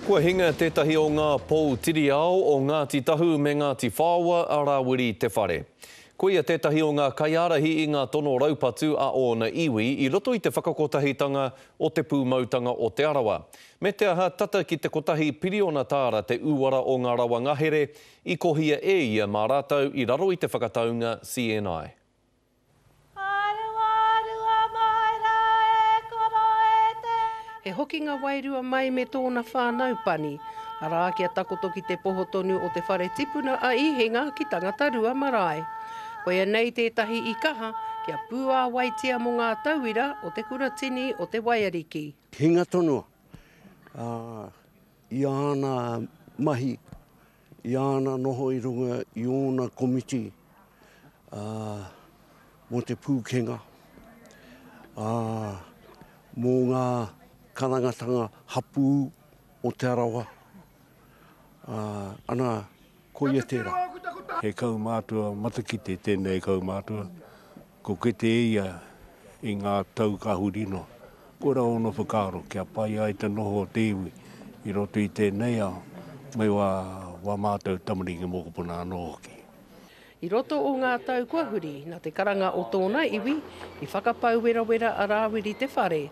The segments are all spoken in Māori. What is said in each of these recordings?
Kua hinga tētahi o ngā pou tiri ao o Ngāti Tahu me Ngāti Whaoa a Rawiri Te Whare. Koia tētahi o ngā kaiārahi i ngā tono raupatu a ōna iwi i roto i te whakakotahitanga o Te Pūmautanga o Te Arawa. Me te aha, tata ki te kotahi piriona tāra te uara o ngā rawa ngahere i kohia e ia mā rātou i raro i te whakataunga CNI. He hokinga wairua mai me tōna whānau pani, arā, kia takoto ki te poho tonu o te whare tipuna a Īhinga ki Tangatarua marae. Koia nei tētahi i kaha kia pūāwaitia mō ngā tauira o te kuratini o Te Waiariki. Hinga tonu i āna mahi. I āna noho i runga i ōna komiti mō te pūkenga, mō ngā karangatanga hapū o Te Arawa, ana, koia tērā. He kaumātua matakite tēnei kaumātua. Ko Kete ia i ngā tau ka huri noa. Kora ōna whakaaro kia pai ai te noho o te iwi i roto i tēnei ao me wā wā mātou tamariki mokopuna anō hoki. I roto o ngā tau kua huri, nā te karanga o tōna iwi, i whakapau werawera a Rāwiri Te Whare,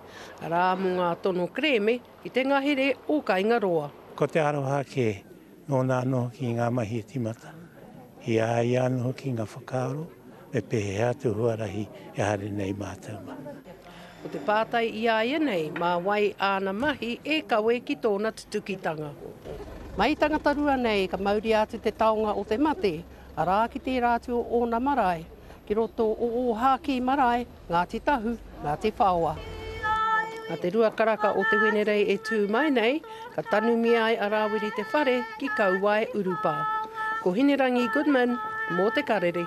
arā, mō ngā tono kerēme I te ngahere o Kaingaroa. Ko te aroha kē, nōna anō hoki ngā mahi e tīmata. I a ia anō hoki ngā whakaaro me pēhea atu huarahi e haere nei mātou mā. Ko te pātai i a ia nei, mā wai āna mahi e kawe ki tōna tutukitanga. Mai Tangatarua nei ka mauria atu te taonga o te mate, arā ki tērā atu o ōna marae, ki roto o Ōhākī marae, Ngāti Tahu, Ngāti Whaoa. Nā te rua karaka o Te Wenerei e tū mai nei, ka tanumia ai a Rāwiri te whare ki Kauae Urupā. Ko Hinerangi Goodman, mō Te Karere.